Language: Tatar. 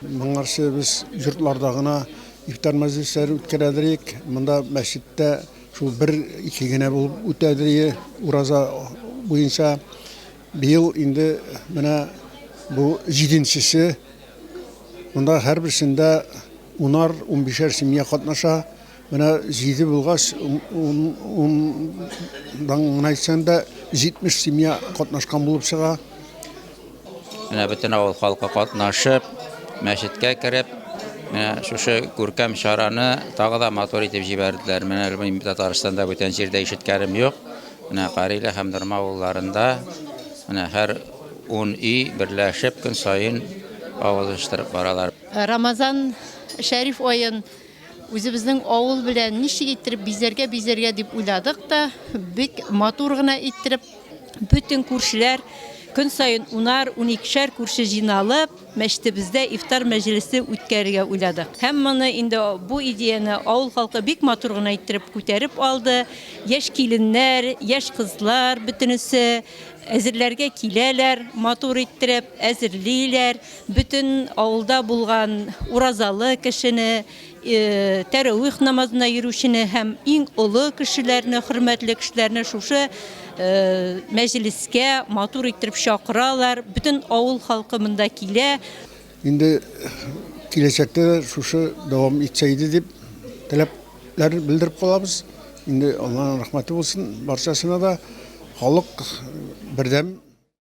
Моңарчы без йортларда гына ифтар мәҗлесләре үткәрәдерик. Монда мәчеттә шул бер ике генә булып үтәдерие ураза буенча. Быел инде менә бу җиденчесе. Монда һәрберсендә унар-унбишәр семья катнаша. Менә җиде булгач, ундан гына әйтсәң дә, 70 семья катнашкан булып чыга. Менә бөтен авыл халкы катнашып, мәчеткә кереп, менә шушы күркәм чараны тагы да матур итеп җибәрделәр. Менә мин Татарстанда бүтән җирдә ишеткәнем юк. Менә Карилә һәм Норма авылларында менә һәр 10 өй берләшеп көн саен авыз оештырып баралар. Рамазан шәриф аен Үзебезнең авыл белән ничек иттереп бизәргә, бизәргә дип уйладык та, бик матур гына иттереп, бөтен күршеләр көн саен унар, уникешәр күрше җыйналып, мәчетебездә ифтар мәҗлесе үткәрергә уйладык. Һәм моны инде бу идеяне авыл халкы бик матур гына иттереп күтәреп алды. Яшь киленнәр, яшь кызлар бөтенесе әзерләргә киләләр, матур иттереп әзерлиләр. Бөтен авылда булган уразалы кешене, тәравих намазына йөрүчене һәм иң олы кешеләрне, хөрмәтле кешеләрне шушы мәҗлескә матур иттереп чакыралар. Бөтен авыл халкы монда килә. Инде киләчәктә дә шушы дәвам итсә иде дип теләкләр белдереп калабыз. Инде Алланың рәхмәте булсын барчасына да. Халык бердәм.